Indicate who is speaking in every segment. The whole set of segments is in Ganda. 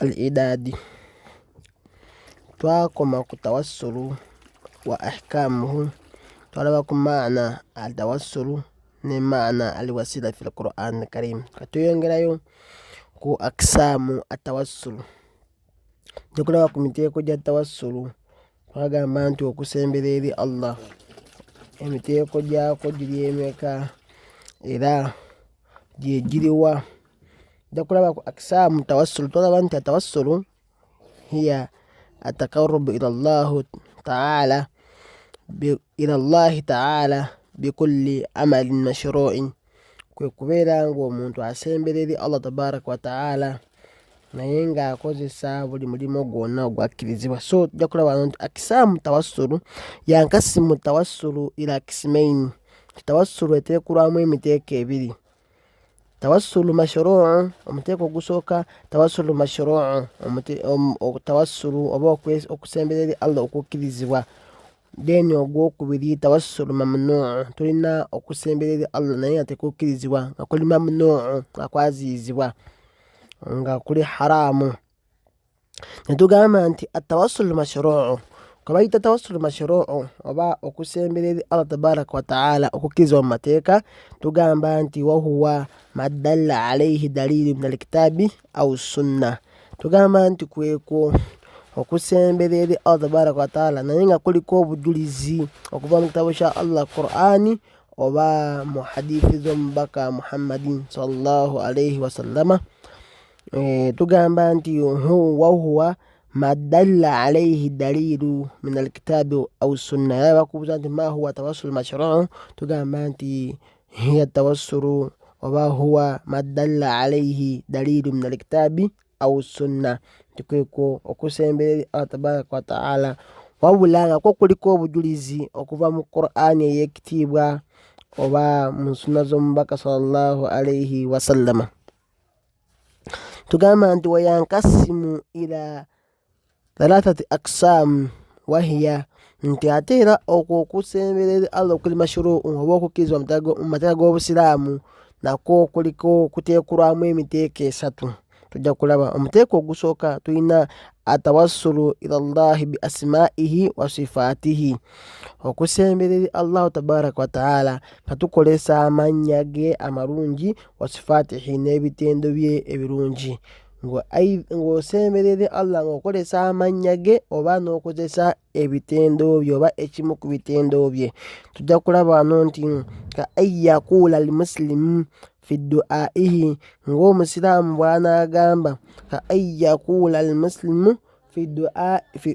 Speaker 1: al idaadi twakoma ku tawassulu wa ahkamuhu twalaba ku maana al tawassulu ne maana al wasila fi lquran karim katuyongerayo ku akisaamu atawassulu tukulaba ku miteeko gya tawassulu twagamba nti okusembera eri allah emiteeko gyako giri emeka era gyegiriwa nja kulaba ku aksamu tawassulu tolaba nti atawassulu hiya ataqarubu ila llahu taala ila llahi taala bikulli amalin mashruin kwe kubeera ng'omuntu asembera eri allah tabaraka wataala naye ng'akozesa buli mulimu gwonna ogwakkirizibwa so tujja kulaba nti akisaamu tawassulu yankasimu tawassulu ila kisimaini tawassulu eteekulwamu emiteeko ebiri tawassulu mashruu omuteeko ogusooka tawassulu mashruu tawassulu oba okusembera eri allah okukkirizibwa then ogwokubiri tawassulu mamnuu tulina okusembera eri allah naye nga tekukkirizibwa nga kuli mamnuu nga kwaziyizibwa nga kuli haraamu netugamba nti atawasulu mashruu kwebayita tawasulu mashruu oba okusembera eri allah tabaraka wataala okukkiriza mu mateeka tugamba nti wahuwa madalla alaihi dalilu min alkitaabi au sunna tugamba nti kwekwo okusembera eri allah tabaraka wataala naye nga kuliko obujulizi okuva mu kitabo kya allah qurani oba mu hadithi z'omubaka muhammadin salllahu alaihi wasallama Eh, tugamba nti wahuwa madalla alaihi dalilu min alkitabi au sunna yaba bakubuza nti mahuwa tawassulu mashruu tugamba nti hiya tawassulu oba huwa madalla alaihi dalilu min alkitabi au sunna nti kwekwo okusembera eri allah tabaraka wataala wabula nga kwo kuliko obujulizi okuva mu qur'ani eyekitiibwa oba mu sunna z'omubaka sallallahu alaihi wasallama tugamba nti wayankasimu ila thalathati aksaamu wahiya nti ate era okwo okusemberera allah okuli mashuruu oba okukkirizibwa mu mateeka g'obusiraamu nakwo kuliko kuteekulwamu emiteeko esatu tujja kulaba omuteeko ogusooka tulina atawassulu ila llahi bi asimaihi wa sifaatihi okusemberera allahu tabaraka wataala nga tukozesa amannya ge amalungi wasifaatihi n'ebitendo bye ebirungi ng'osemberere allah ng'okozesa amannya ge oba n'okozesa ebitendo bye oba ekimu ku bitendo bye tujja kulaba wano nti ka ayakuula al musilimu fi duaihi ng'omusiraamu bw'anaagamba ka ayakuula al musilimu fi duaihi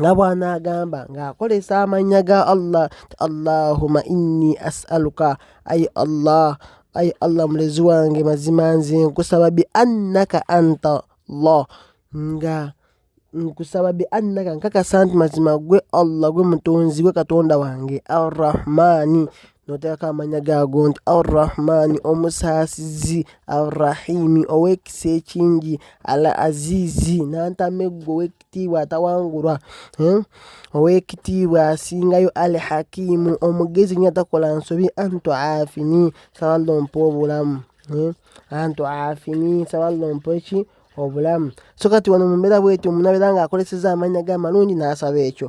Speaker 1: nga bw'anaagamba ng'akozesa amannya ga allah ti allahuma inni asaluka ayi allah ayi allah mulezi wange mazima nze nkusaba bi annaka anta llah nga nkusaba bi annaka nkakasa nti mazima gwe allah gwe mutonzi gwe katonda wange arrahmaani noteekako amannya gaago nti arrahmaani omusaasizi arrahimi ow'ekisa ekingi al aziizi n'antameggo kitiibwa atawangulwa eh? owekitiibwa asingayo al hakimu omugezi nyo atakola nsobi antu afini saballa ompa obulamu eh? antu afini saballa ompa eki obulamu so kati wano mumbeera bwetyo omuntu abeera nga akozeseza amanya ge amalungi nasaba ekyo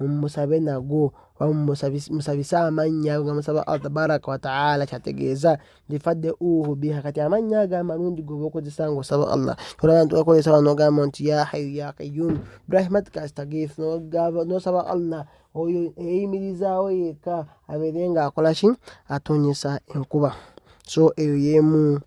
Speaker 1: mumusabe nagwo oba musabise amannya nga musaba allah tabaraka wataala kyategeeza bifadde uhu biha kati amannya ago amalungi goba okozesa nga osaba allah olaba nti okozesa wano ogamba nti ya hayu ya kayum birahmatika astagif nosaba allah oyo eyimirizaawo yekka abeere nga akola ki atonyesa enkuba so eyo yemu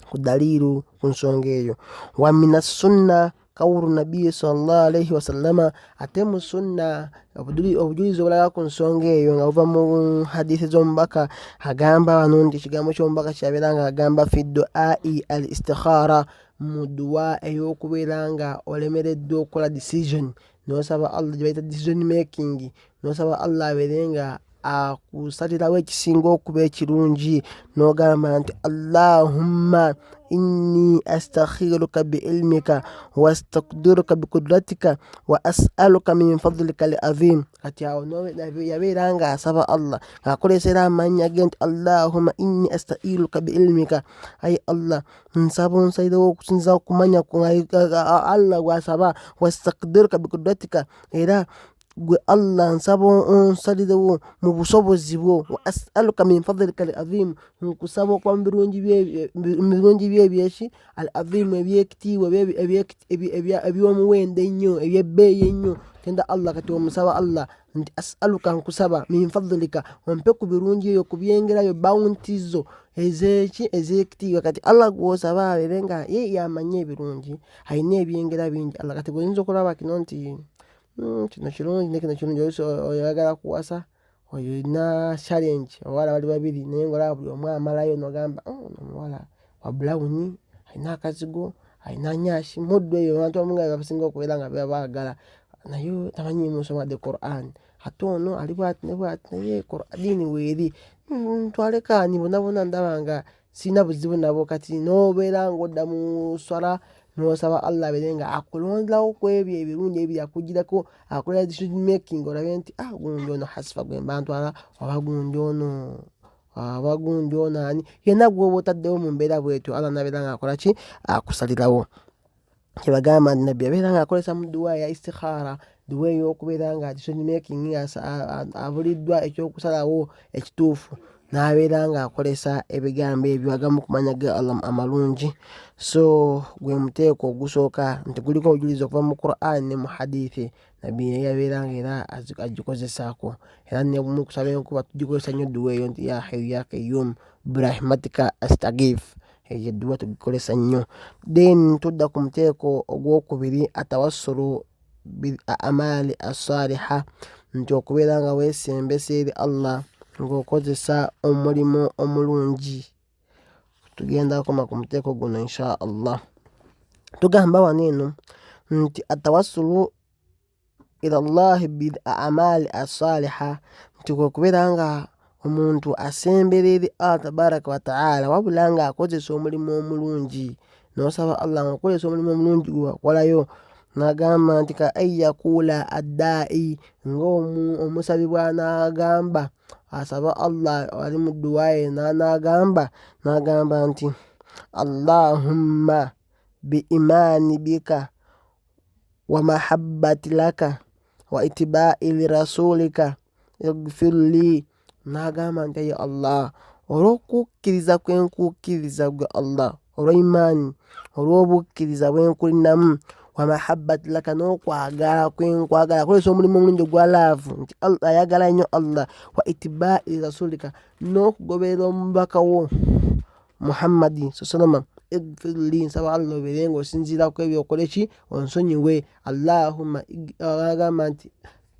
Speaker 1: ku daliilu ku nsonga eyo wa min assunna kawulu nabbiyi salllah alaihi wasallama ate mu sunna obujulizi obulaga ku nsonga eyo nga buva mu hadithi z'omubaka agamba wano nti ekigambo ky'omubaka kyabeera nga agamba fi duai al istikhara mu duwa ey'okubeera nga olemereddwa okukola decision nosaba allah gyebayita decision making nosaba allah abeere nga akusalirawo ekisinga okuba ekirungi nogamba nti allahumma inni astakhiruka biilmika wastakdiruka bikudratika wa asaluka min fadlika li azim kati awo yabeera nga asaba allah ngaakolesera amannya ge nti allahumma inni astairuka biilmika ayi allah nsaba onsalirewo okusinza okumanya allah gwasaba wastakdiruka bikudratika era gwe allah nsaba onsalirewo mu busobozi bwo wa asaluka min fadlika al azimu nkusaba okuba mu birungi byo ebyeki al azimu ebyekitiibwa ebyomuwendo ennyo ebyebbeeyi ennyo tenda allah kati omusaba allah nti asaluka nkusaba min fadlika ompe ku birungi eyo ku byengerayo bawunti zo ezeki ezekitiibwa kati allah gwosaba abeere nga ye yamanye ebirungi alina ebyengera bingi allah kati gweoyinza okulaba kino nti hmm, kino kirungi nekino kirungi oyagala kuwasa oyo olina challenge abawala bali babiri naye ngaolaba buli omu amalayo nogamba oh, omuwala wabulawuni alina akazigo alina nyashi muddu eyo abantu amunga basinga okubeera nga bebaagala naye tamanyi musoma the quran ate ono ali bwati ne bwati naye diini weeri hmm, twalekaani bonabona ndaba nga sirina buzibu nabo kati n'obeera ng'odda mu swala n'osaba allah abeere nga akulonderawo ku ebyo ebirungi ebiri akugirako akola decision making olabe nti ah gundi ono hasifa gwe mba ntwala oba gundi ono aba gundi ono ani yenna gw'oba otaddewo mu mbeera bwetyo allah nabeera nga akola ki akusalirawo kyebagamba nti nabbi abeera nga akozesa mu duwa ya istikhara duwa eyokubeera nga decisionmaking abuliddwa ekyokusalawo ekituufu n'abeera nga akozesa ebigambo ebyo agamu kumanya ga allah amalungi so gwe muteeko ogusooka nti guliko obujulizi okuva mu quran ne mu hadithi nabbi naye yabeeranga era agikozesaako era nebumu kusaba enkuba tugikozesa nnyo edduwa eyo nti ya hayu ya kayum brahmatika astagif eyo edduwa tugikozesa nnyo then tudda ku muteeko ogwokubiri atawassulu bil amaali assaliha nti okubeera nga weesembesa eri allah ng'okozesa omulimu omulungi tugenda kukoma ku muteeko guno insha allah tugamba wano eno nti atawassulu ila llahi bil amali asaliha nti kwekubeera nga omuntu asembera eri allah tabaraka wataala wabula nga akozesa omulimu omulungi nosaba allah nga okozesa omulimu omulungi gwewakolayo nagamba nti ka an yakuula addaa'i ngaomusabi bwanagamba asaba allah ali mu dduwa yena n'agamba n'agamba nti allahumma bi imaani bika wa mahabbati laka wa itibai lirasulika igfir li n'agamba nti ye allah olw'okukkiriza kwe nkukkiriza gwe allah olw'eimaani olw'obukkiriza bwenkulinamu wamahabbat laka n'okwagala kwenkwagala akozesa omulimu omulungi ogwa laavu nti ayagala nnyo allah wa itibaai rasulika n'okugoberera omubaka wo muhammadi sasalama egfirli nsaba allah obeere nga osinziiraku ebyokola eki onsonyiwe allahumma agamba nti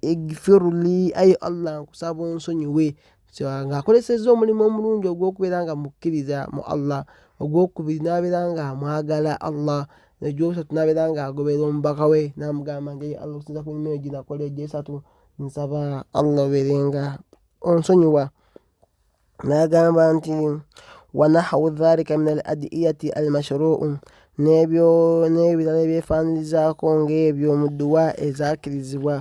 Speaker 1: egfirli ayi allah nkusaba onsonyiwe ng'akozesezza omulimu omulungi ogw'okubeera nga mukkiriza mu allah ogwokubiri n'abeera nga amwagala allah egyokusatu n'abeera nga agoberera omubaka we n'amugamba nti allah okusinza ku mirimu egyo nakola egyesatu nsaba allah obeere nga onsonyiwa n'agamba nti wanahawu dhalika min al adiyati al mashruu n'ebyo n'ebirala ebyefaanirizaako ng'ebyo mu dduwa ezakkirizibwa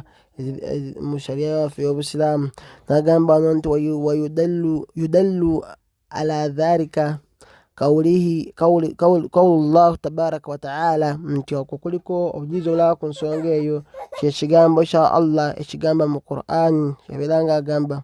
Speaker 1: mu sharia yaffe y'obusiraamu nagamba no nti wayudallu ala dhalika kaulihi kaulu llahu tabaraka wataala nti okwo kuliko obujulizi obulaba ku nsonga eyo kyekigambo kya allah ekigamba mu qur'ani yabeera nga agamba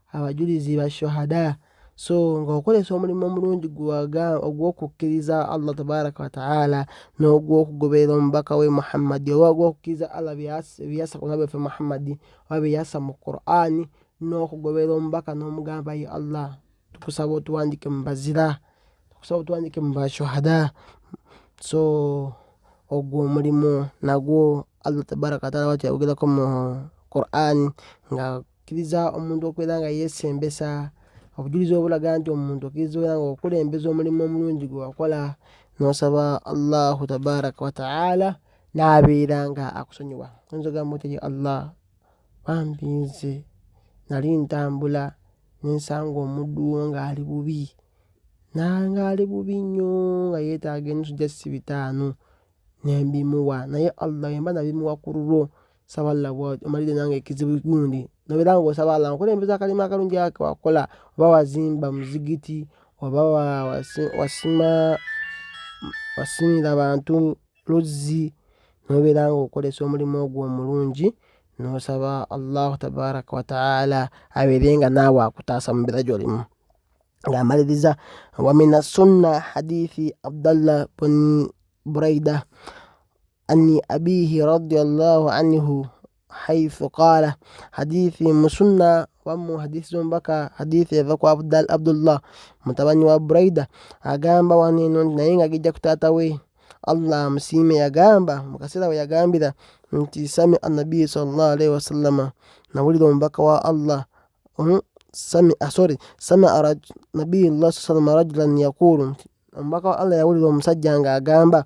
Speaker 1: abajulizi ba shuhada so nga okozesa omulimu omulungi gwaga ogw'okukkiriza allah tabaraka wataala n'ogw'okugoberera omubaka we muhammadi oba ogw'okukkiriza allah byeyasa ku nabi waffe muhammadi oba byeyasa mu qur'ani n'okugoberera omubaka n'omugamba ye allah tukusaba otuwandike mu bazira tukusaba otuwandike mu bashuhada so ogwo omulimu nagwo allah tabaraka wataala watu yayogerako mu qur'ani nga Kkiriza omuntu okubeera nga yeesembesa obujulizi obulaga nti omuntu okkiriza obeera nga okulembeza omulimu omulungi gwe wakola n'osaba allahu tabaraka wataala n'abeera nga akusonyiwa oyinza ogamba otya ye allah bambi nze nali ntambula nensanga omuddu wo ng'ali bubi nanga ali bubi nnyo nga yeetaaga ennusu gya ssi bitaano nembimuwa naye allah yemba nabimuwa ku lulwo saba allah omalire nange ekizibu gundi nobeera nga osaba allah nkulembeza akalimu akalungi ake wakola oba wazimba muzigiti oba wasima wasimira bantu luzzi nobeera nga okolesa omulimu ogwo omulungi nosaba allahu tabaraka wataala abeere nga naawe akutaasa mubeera gyolimu ngaamaliriza wamina sunna hadithi abdallah buni buraida ani abihi radiallahu anhu haithu qala hadithi musunna wamu hadithi zombaka hadithi eva kwa Abdal, abdullah mutabani wa buraida agamba waneno nti naye nga gijja ku taata we allah amusiime yagamba mu kaseera we yagambira nti sami annabiyi salllah alaihi wasallama nawulira omubaka wa allah um, sami sorry samia nabiyi llah saa salama rajulan yaqulu omubaka wa allah yawulira omusajja nga agamba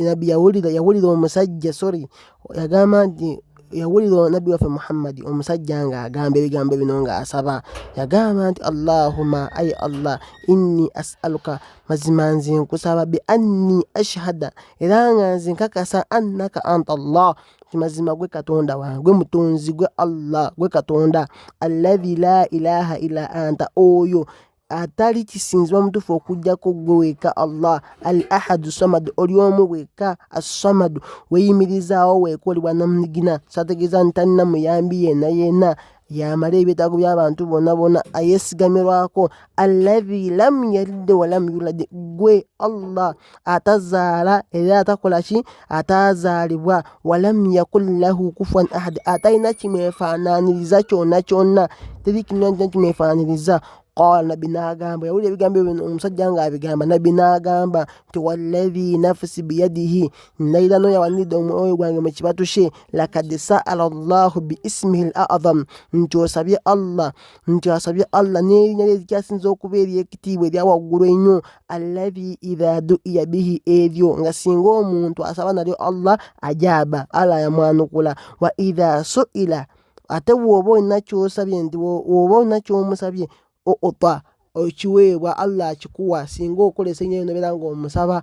Speaker 1: nabbi yawulira yawulira omusajja sorry yagamba nti yawulira nabbi waffe muhammadi omusajja nga agamba ebigambo bino nga asaba yagamba nti allahuma ayi allah inni asaluka mazima nze nkusaba bi anni ashhada era nga nze nkakasa annaka anta allah mazima gwe katonda wange gwe mutonzi gwe allah gwe katonda alladhi la ilaha illa anta oyo atali kisinzibwa mutuufu okujjako gwe weka allah al ahadu samadu oli omu weka assamadu weyimirizaawo wekolebwa namunigina sategeeza nti talina muyambi yena yena yamala ebyetaago by'abantu bona bona ayesigamirwako allahi lam yalidde walam yulade gwe allah atazaala era atakola ki ataazaalibwa walam yakun lahu kufwan ahad atalina kimwefaananiriza kyonna kyonna teri kinna kimwefaananiriza qala nabbi n'agamba yawulira ebigambo ebyo omusajja ng'abigamba nabbi n'agamba nti wallahi nafsi biyadihi nayira no yawanidde omwoyo gwange mu kibatu kye lakad saala llahu biismihi l azam nti osabye allah nti asabye allah n'erinya lye zikyasinza okuba ery'ekitiibwa erya waggulu ennyo allahi idha duiya bihi eryo nga singa omuntu asaba nalyo allah ajaaba allah yamwanukula wa idha suila ate woba olina kyosabye nti woba olina kyomusabye outa okiweebwa allah akikuwa singa okolesa enyo nobeera nga omusaba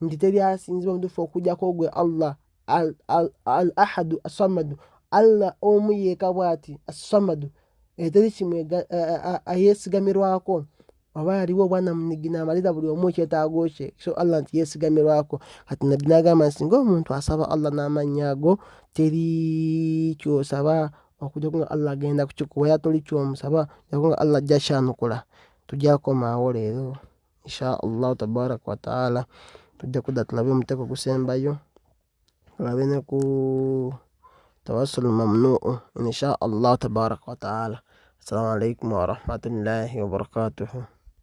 Speaker 1: nti teri asinzibwa mutufu okujjako gwe allah al ahadu asamadu allah omu yeeka bwati asamadu eteri eh, kimwe eh, eh, ayesigamirwako oba aliwo obwana munigina amalira buli omu ekyetaago kye so allah nti yesigamirwako kati nabbi nagamba nti singa omuntu asaba allah n'amannya ago teri kyosaba okujja kunga allah agenda kukikuwa era toli kyomusaba jakunga allah ajja kyanukula tujja komawo leero insha allahu tabaraka wataala tujja kudda tulabe omuteeko gusembayo tulabe ne ku tawassul mamnuu insha allahu tabaraka wataala assalamu alaikum warahmatullahi wabarakatuhu